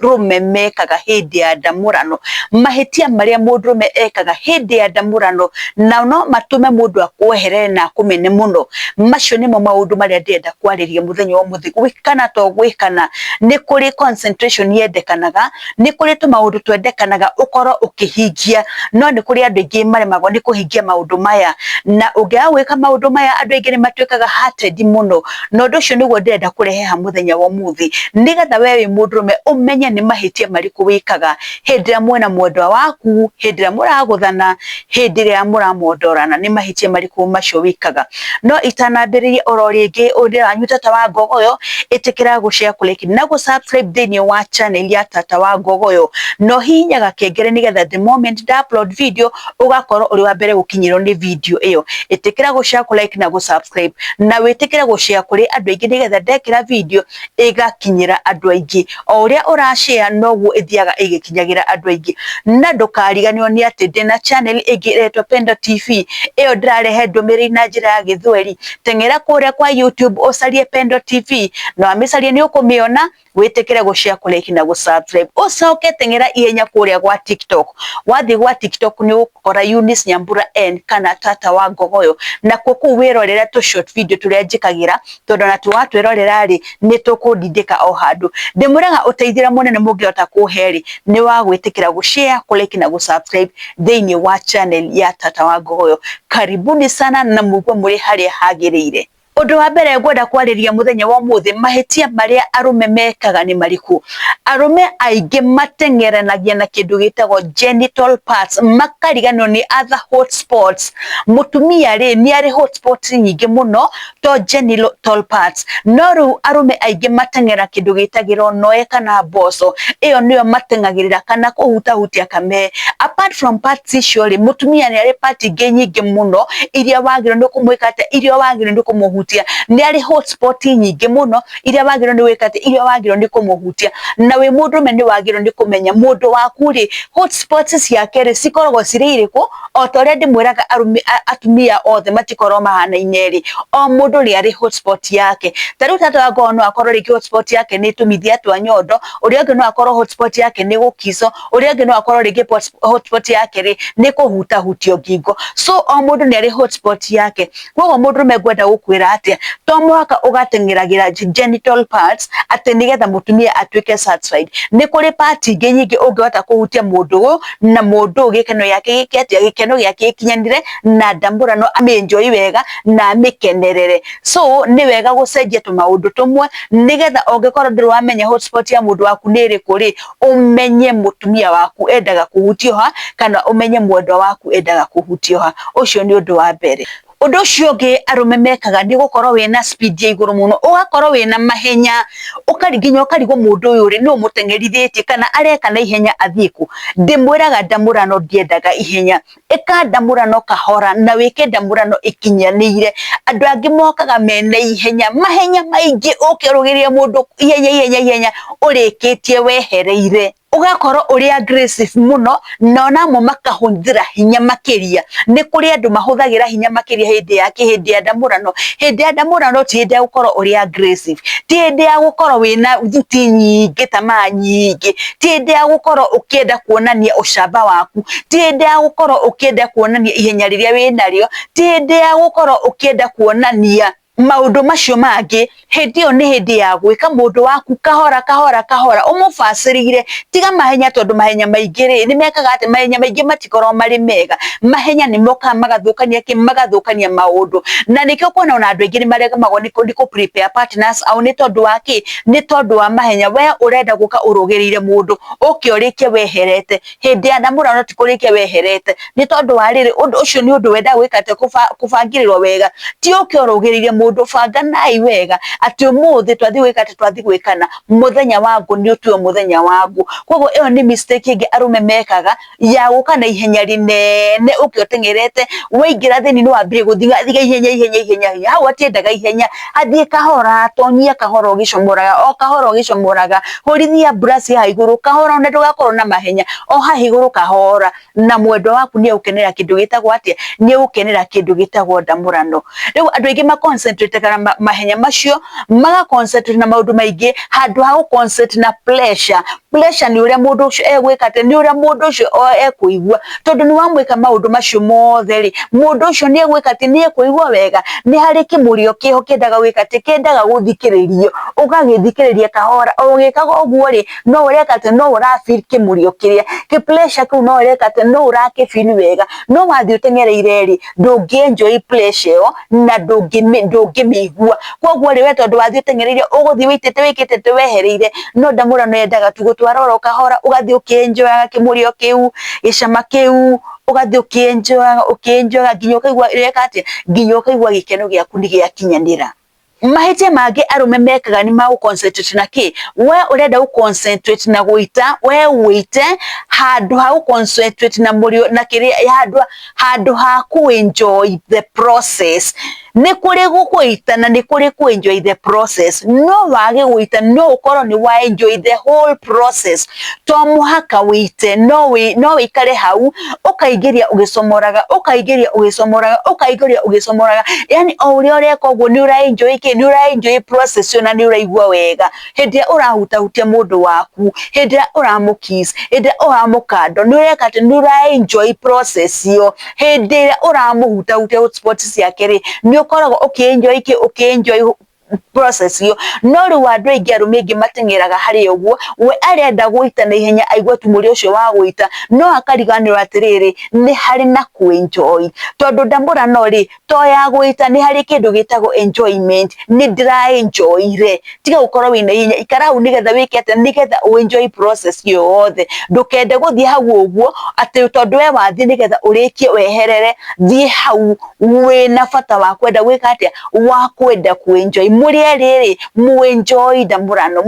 mũndũrũme mekaga hĩndĩ ya ndamũrano, mahĩtia marĩa mũndũrũme ekaga hĩndĩ ya ndamũrano, na no matũme mũndũ akweherere na akũmene mũno. Macio nĩmo maũndũ marĩa ndĩrenda kwarĩria mũthenya wa ũmũthĩ. Gwĩkana to gwĩkana, nĩ kũrĩ concentration yendekanaga, nĩ kũrĩ tũmaũndũ twendekanaga ũkorwo ũkĩhingia, no nĩ kũrĩ andũ aingĩ maremagwo nĩ kũhingia maũndũ maya. Na ũngĩaga gwĩka maũndũ maya andũ aingĩ nĩ matuĩkaga hearted mũno. na ũndũ ũcio nĩguo ndĩrenda kũrehe ha mũthenya wa ũmũthĩ nĩgetha we wĩ mũndũrũme ũmenye nĩ mahĩtia marĩkũ wĩkaga hĩndĩ ĩrĩa mwena mwendwa waku hĩndĩ ĩrĩa mũragũthana hĩndĩ ĩrĩa mũramondorana nĩ mahĩtia marĩkũ macio wĩkaga no itanambĩrĩria oro rĩngĩ ũndĩ wanyu tata wa ngogoyo ĩtĩkĩra gũshare kũreki na gũ subscribe thĩinĩ wa channel ya tata wa ngogoyo no hihinya gakengere nĩgetha the moment nda upload video ũgakorwo ũrĩ wa mbere gũkinyĩrwo nĩ video ĩyo ĩtĩkĩra gũshare kũreki na gũ subscribe na wĩtĩkĩre gũcea kũrĩ andũ aingĩ nĩgetha ndekĩra video ĩgakinyĩra andũ aingĩ o ũrĩa ũracea noguo ĩthiaga ĩgĩkinyagĩra andũ aingĩ na ndũkariganĩrwo nĩ atĩ ndĩna channel ĩngĩ ĩretwo Pendo TV ĩyo ndĩrarehe ndũmĩrĩri na njĩra ya gĩthweri teng'era kũrĩa kwa YouTube ũcarie Pendo TV na wamĩcaria nĩ ũkũmĩona wĩtĩkĩre gũshare kũrĩki na gũsubscribe ũcoke teng'era ihenya kũrĩa gwa tiktok wathiĩ gwa tiktok nĩ ũgũkora Eunice Nyambura N kana tata wa ngogoyo nakuo kũu wĩrorere tũ short video tũrĩa njĩkagĩra tondũ ona twatwĩrorera rĩ nĩ tũkũndindĩka o handũ ndĩmwĩraga ũteithĩra mũnene mũngĩhota kũhe rĩ nĩ wa gwĩtĩkĩra gũshare kũrĩki na gũsubscribe thĩinĩ wa channel ya tata wa ngogoyo karibuni sana na mũigua mũrĩ harĩa hagĩrĩire Ũndũ wa mbere ngwenda kwarĩria mũthenya wa ũmũthĩ, mahĩtia marĩa arũme mekaga nĩ marĩkũ? Arũme aingĩ mateng'eranagia na kĩndũ gĩtagwo genital parts, makariganĩrwo nĩ other hot spots. Mũtumia rĩ, nĩ arĩ hot spots nyingĩ mũno to genital parts. No rĩu arũme aingĩ mateng'eraga kĩndũ gĩtagĩrwo noe kana mboco, ĩyo nĩyo mateng'agĩrĩra kana kũhutahutia kamee. Apart from parts icio rĩ mutumia nĩ arĩ part ingĩ nyingĩ muno iria wagĩrĩirwo nĩ kũmwĩka atĩ iria wagĩrĩirwo nĩ kũmũhutia nĩ arĩ hotspot nyingĩ muno iria wagĩrĩirwo nĩ gwĩka atĩ iria wagĩrĩirwo nĩ kũmũhutia na wĩ mũndũ me nĩ wagĩrĩirwo nĩ kũmenya mũndũ waku rĩ hotspot ciake rĩ cikoragwo cirĩ irĩkũ o ta ũrĩa ndĩmwĩraga arũme atumia othe matikoragwo mahanaine rĩ o mũndũ nĩ arĩ hotspot yake ta rĩu tata wa ngoro no akorwo rĩngĩ hotspot yake nĩ tũmithia twa nyondo ũrĩa ũngĩ no akorwo hotspot yake nĩ gũkico ũrĩa ũngĩ no akorwo rĩngĩ pot- hotspot yake rĩ nĩ kũhutahutio ngingo so o mũndũ nĩ arĩ hotspot yake koguo mũndũ rũme ngwenda gũkwĩra atĩa to mũhaka ũgateng'eragĩra ge- genital parts atĩ nĩgetha mũtumia atuĩke satisfied nĩ kũrĩ part ingĩ nyingĩ ũngĩhota kũhutia mũndũ ũyũ na mũndũ ũyũ gĩkeno gĩake gĩke atĩa gĩkeno gĩake gĩkinyanire na ndamũra no amĩnjoi wega na amĩkenerere so nĩ wega gũcenjia tũmaũndũ tũmwe nĩgetha ũngĩkorwo ndũrĩ wamenya hotspot ya mũndũ waku nĩ ĩrĩkũ rĩ ũmenye mũtumia waku endaga kũhutio ha kana ũmenye mwendwa waku endaga kũhutio ha ũcio nĩ ũndũ wa mbere Ũndũ ũcio ũngĩ arũme mekaga nĩ gũkorwo wĩna speed ya igũrũ mũno, ũgakorwo wĩna mahenya, ũkari nginya ũkarigwo mũndũ ũyũ rĩ, nũũ ũmũteng'erithĩtie kana areka na ihenya athiĩ kũ. Ndĩmwĩraga ndamũrano ndiendaga ihenya, ĩka ndamũrano kahora na wĩke ndamũrano ĩkinyanĩire. Andũ angĩ mokaga mena ihenya, mahenya maingĩ ũke ũrũgĩrĩre mũndũ ihenya ihenya ihenya ũrĩkĩtie wehereire. Ũgakorwo ũrĩ aggressive mũno nao namo makahũthĩra hinya makĩria. Nĩ kũrĩ andũ mahũthagĩra hinya makĩria hĩndĩ ya kĩ? Hĩndĩ ya ndamũrano. Hĩndĩ ya ndamũrano ti hĩndĩ ya gũkorwo ũrĩ aggressive, ti hĩndĩ ya gũkorwo wĩna thuti nyingĩ, tamaa nyingĩ, ti hĩndĩ ya gũkorwo ũkĩenda kuonania ũcamba waku, ti hĩndĩ ya gũkorwo ũkĩenda kuonania ihenya rĩrĩa wĩnarĩo, ti hĩndĩ ya gũkorwo ũkĩenda kuonania maũndũ macio mangĩ, hĩndĩ ĩyo nĩ hĩndĩ ya gwĩka mũndũ waku kahora kahora kahora, ũmũbacĩrĩire, tiga mahenya tondũ mahenya maingĩ rĩ, nĩ mekaga atĩ, mahenya maingĩ matikoragwo marĩ mega, mahenya nĩ mokaga magathũkania kĩ, magathũkania maũndũ, na nĩkĩo ũkuona ona andũ aingĩ nĩ maremagwo nĩ kũ prepare partners ao nĩ tondũ wa kĩ? nĩ tondũ wa mahenya we ũrenda gũka ũrũgĩrĩire mũndũ ũke ũrĩke weherete hĩndĩ ya ndamũra no ti kũrĩke weherete nĩ tondũ wa rĩrĩ ũndũ ũcio nĩ ũndũ wenda gwĩka atĩ kũba- kũbangĩrĩrwo wega ti ũke ũrũgĩrĩire mũndũ banganai wega atĩ ũmũthĩ twathiĩ gwĩka atĩ twathiĩ gwĩkana mũthenya wa ngũ nĩ ũtuo mũthenya wa ngũ koguo ĩyo nĩ mistake ĩngĩ arũme mekaga ya gũka na ihenya rĩnene ũkĩ ũteng'erete waingĩra thĩinĩ no ambire gũthigathiga ihenya ihenya ihenya ihenya hau atiendaga ihenya athiĩ kahora tonyia kahora ũgĩcomoraga o kahora ũgĩcomoraga hũrithia mburaci haha igũrũ kahora na ndũgakorwo na mahenya o haha igũrũ kahora na mwendwa waku nĩ egũkenera kĩndũ gĩtagwo atĩa nĩ egũkenera kĩndũ gĩtagwo ndamũrano rĩu andũ aingĩ ma concentrate na ma- mahenya macio maga concentrate na maũndũ maingĩ handũ ha gũ concentrate na pressure Pressure nĩ ũrĩa mũndũ ũcio egwĩka atĩ, nĩ ũrĩa mũndũ ũcio ekũigua, tondũ nĩ wamwĩka maũndũ macio mothe rĩ, mũndũ ũcio nĩ egwĩka atĩ, nĩ ekũigua wega, nĩ harĩ kĩmũrĩo kĩho kĩendaga gwĩka atĩ, kĩendaga gũthikĩrĩrio, ũgagĩthikĩrĩria kahora, o ũgĩkaga ũguo rĩ, no ũreka atĩ, no ũra feel kĩmũrĩo kĩrĩa, kĩ pressure kĩu no ũreka atĩ, no ũrakĩ feel wega, no wathiĩ ũteng'ereire rĩ, ndũngĩ enjoy pressure ĩyo. na ndũngĩmĩigua koguo rĩ we tondũ wathiĩ ũteng'ereire ũgũthiĩ wĩitĩte wĩkĩte atĩ wehereire no ndamũrano yendaga tu gũtwara oro kahora ũgathiĩ ũkĩenjoyaga kĩmũrĩo kĩu gĩcama kĩu ũgathiĩ ũkĩenjoyaga ũkĩenjoyaga nginya ũkaigua ĩreka atĩa nginya ũkaigua gĩkeno gĩaku nĩ gĩakinyanĩra. mahĩtia mangĩ arũme mekaga nĩ magũ concentrate na kĩ we ũrenda gũ concentrate na gũita we wĩite handũ ha gũ concentrate na mũrĩo na kĩrĩa handũ handũ ha kũ enjoy the process nĩ kũrĩ gũgũita na nĩ kũrĩ kũ enjoy the process no wage gũita no ũkorwo nĩ wa enjoy the whole process to mũhaka wĩite no wĩ no wĩikare hau ũkaingĩria ũgĩcomoraga ũkaingĩria ũgĩcomoraga ũkaingĩria ũgĩcomoraga yani o ũrĩa ũreka ũguo nĩ ũra enjoy kĩ nĩ ũra enjoy process ũcio na nĩ ũraigua wega hĩndĩ ĩrĩa ũrahutahutia mũndũ waku hĩndĩ ĩrĩa ũramũkiss hĩndĩ ĩrĩa ũramũkando nĩ ũreka atĩ nĩ ũra enjoy process ĩyo hĩndĩ ĩrĩa ũramũhutahutia spot ciake rĩ nĩ ũkoragwo ũkĩ enjoy kĩ ũkĩ enjoy process iyo no rĩu andũ aingĩ arũme aingĩ mateng'eraga harĩ ũguo we arenda gũita na ihenya aigua tu mũrĩ ũcio wa gũita no akariganĩrwo atĩrĩrĩ nĩ harĩ na ku enjoy tondũ ndamũra no rĩ to ya gũita nĩ harĩ kĩndũ gĩtagwo enjoyment nĩ ndĩra enjoy re tiga gũkorwo wĩna ihenya ikara hau nĩgetha wĩke atĩa nĩgetha ũ enjoy process iyo yothe ndũkende gũthiĩ hau ũguo atĩ tondũ we wathiĩ nĩgetha ũrĩkie weherere thiĩ hau wĩna bata wa kwenda gwĩka atĩa wa kwenda kwĩnjoi mũrĩa rĩrĩ mwĩnjoi na mũrano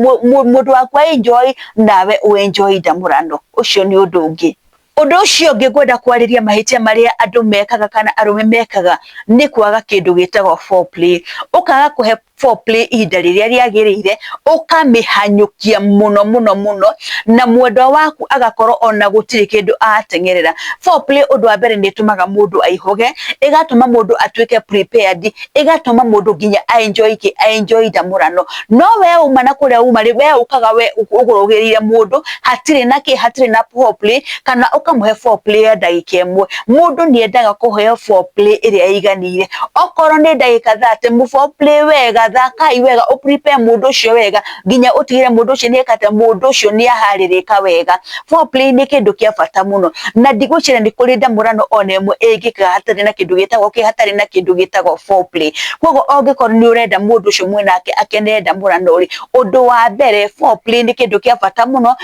mũndũ waku aĩnjoi nawe wĩnjoi na mũrano ũcio nĩ ũndũ ũngĩ Ũndũ ũcio ũngĩ ngwenda kwarĩria mahĩtia marĩa andũ mekaga kana arũme mekaga nĩ kwaga kĩndũ gĩtagwo foreplay. Ũkaga kũhe foreplay ihinda rĩrĩa rĩagĩrĩire ũkamĩhanyũkia mũno mũno mũno na mwendwa waku agakorwo ona gũtirĩ kĩndũ atengerera. Foreplay ũndũ wa mbere nĩ ĩtũmaga mũndũ aihũge, ĩgatũma mũndũ atuĩke prepared, ĩgatũma mũndũ nginya a enjoy kĩ? A enjoy ndamũrano. No we uma na kũrĩa uma rĩ, we ũkaga we ũgũrũgĩrĩire mũndũ, hatirĩ na kĩ? Hatirĩ na foreplay. kana ũkamũhe foreplay ya ndagĩka ĩmwe. Mũndũ nĩ endaga kũheo foreplay ĩrĩa ĩiganĩire. Okorwo nĩ ndagĩka thate, mũ foreplay wega, thakai wega, ũ prepare mũndũ ũcio wega nginya ũtigĩrĩre mũndũ ũcio nĩ eka atĩa, mũndũ ũcio nĩ aharĩrĩka wega. Foreplay nĩ kĩndũ kĩa bata mũno, na ndigwĩciria nĩ kũrĩ ndamũrano ona ĩmwe ĩngĩkaga hatarĩ na kĩndũ gĩtagwo kĩ, hatarĩ na kĩndũ gĩtagwo foreplay. Kũguo ũngĩkorwo nĩ ũrenda mũndũ ũcio mwĩ nake akenerere ndamũrano rĩ, ũndũ wa mbere foreplay nĩ kĩndũ kĩa bata mũno.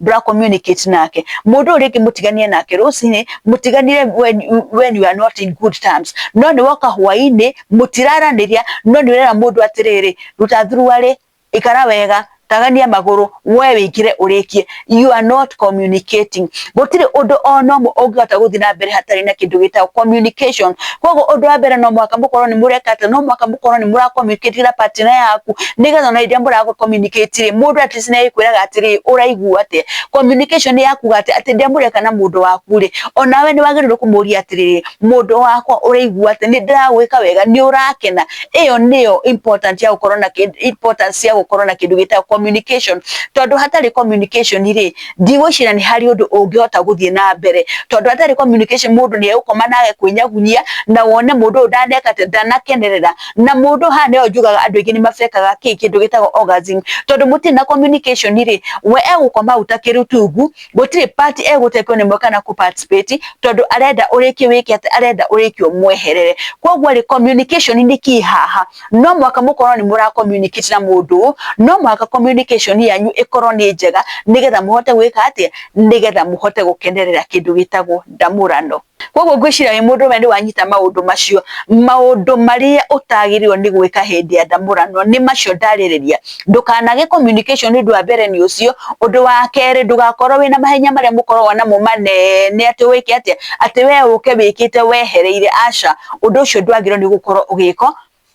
ndũra communicate nake mundu uri ngi mutiganie nake rucini mutiganire when, you- when you are not in good terms no ni woka hwaini mutiraraniria no ni urera mundu atiriri ruta thuruari ikara wega tagania maguru we wikire urikie you are not communicating gutiri undu ona umwe ungihota guthi na mbere hatari na kindu gitagwo communication koguo ũndũ wa mbere no mwaka mũkorwo nĩ mũreka atĩ no mwaka mũkorwo nĩ mũra communicate na partner yaku nĩgetha ona iria mũra communicate rĩ mũndũ at least nĩagĩkwĩraga atĩrĩ ũraigua atĩa communication ya kuga atĩ atĩ ndĩa mũreka na mũndũ waku rĩ onawe nĩ wagĩrĩirwo kũmũria atĩrĩ mũndũ wakwa ũraigua atĩ nĩ ndĩragwĩka wega nĩ ũrakena ĩyo nĩyo important ya gũkorwo na importance ya gũkorwo na kĩndũ gĩtagwo communication tondũ hatarĩ communication rĩ ndigwĩciria nĩ harĩ ũndũ ũngĩhota gũthiĩ na mbere tondũ atarĩ communication mũndũ nĩ egũkoma nage kwĩnyagunyia na wone mũndũ ũyũ ndaneka ndanakenerera na mũndũ haha nĩyo njugaga andũ aingĩ nĩ mabekaga kĩ kĩndũ gĩtagwo orgasm tondũ mũtirĩ na communication rĩ we egũkoma hau ta kĩrutungu gũtirĩ part egũtekwo nĩ mwe kana kũ participate tondũ arenda ũrĩkio wĩke atĩ arenda ũrĩkio mweherere koguo rĩ communication nĩ key haha no mũhaka mũkorwo nĩ mũra communicate na mũndũ no mũhaka communication yanyu ĩkorwo nĩ njega nĩgetha mũhote gwĩka atĩa nĩgetha mũhote gũkenerera kĩndũ gĩtagwo ndamũrano koguo ngwĩciria wĩ mũndũ ũmwe nĩ wanyita maũndũ macio maũndũ marĩa ũtagĩrĩirwo nĩ gwĩka hĩndĩ ya ndamũrano nĩ macio ndarĩrĩria ndũkanage communication nĩ ũndũ wa mbere nĩ ũcio, ũndũ wa kerĩ ndũgakorwo wĩna mahenya marĩa mũkoragwo namo manene atĩ wĩke atĩa, atĩ we ũke wĩkĩte wehereire, aca, ũndũ ũcio ndwagĩrĩirwo nĩ gũkorwo ũgĩkwo,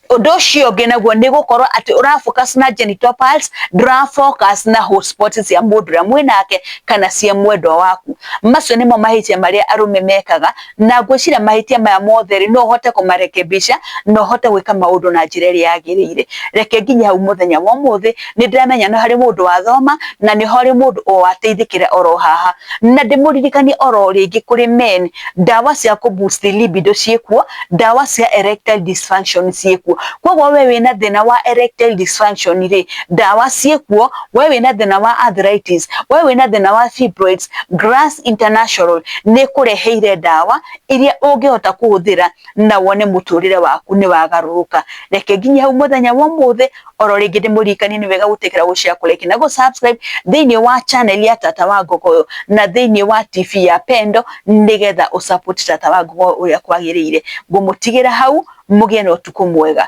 ũndũ ũcio ũngĩ naguo nĩ gũkorwo atĩ ũra focus na genital parts ndũra focus na hot spots cia mũndũ ũrĩa mwĩnake kana cia mwendwa waku, macio nĩmo mahĩtia marĩa arũme mekaga. na ngwĩciria mahĩtia maya mothe rĩ no hote kũmarekebisha no hote gwĩka maũndũ na njĩra ĩrĩa yagĩrĩire reke nginya hau mũthenya wa ũmũthĩ nĩ ndĩramenya no harĩ mũndũ wathoma na nĩ harĩ mũndũ o ateithĩkĩra oro haha na ndĩmũririkanie oro rĩngĩ kũrĩ men ndawa cia kũ boost libido ciĩkuo ndawa cia erectile dysfunction ciĩkuo kwoguo we wĩna thĩna wa erectile dysfunction rĩ ndawa ciĩkuo we wĩna thĩna wa arthritis, we wĩna thĩna wa fibroids, Grass International nĩ kũreheire ndawa iria ũngĩhota kũhũthĩra na wone mũtũrĩre waku nĩ wagarũrũka. Reke nginya hau mũthenya wa ũmũthĩ, oro rĩngĩ ndĩmũririkanie nĩ wega gũtĩkĩra gũshare kũreki na gũsubscribe thĩinĩ wa channel ya Tata wa Ngogoyo na thĩinĩ wa TV ya Pendo nĩgetha ũsupport Tata wa Ngogoyo ũrĩa kwagĩrĩire. Ngũmũtigĩra hau mũgĩe na ũtukũ mwega.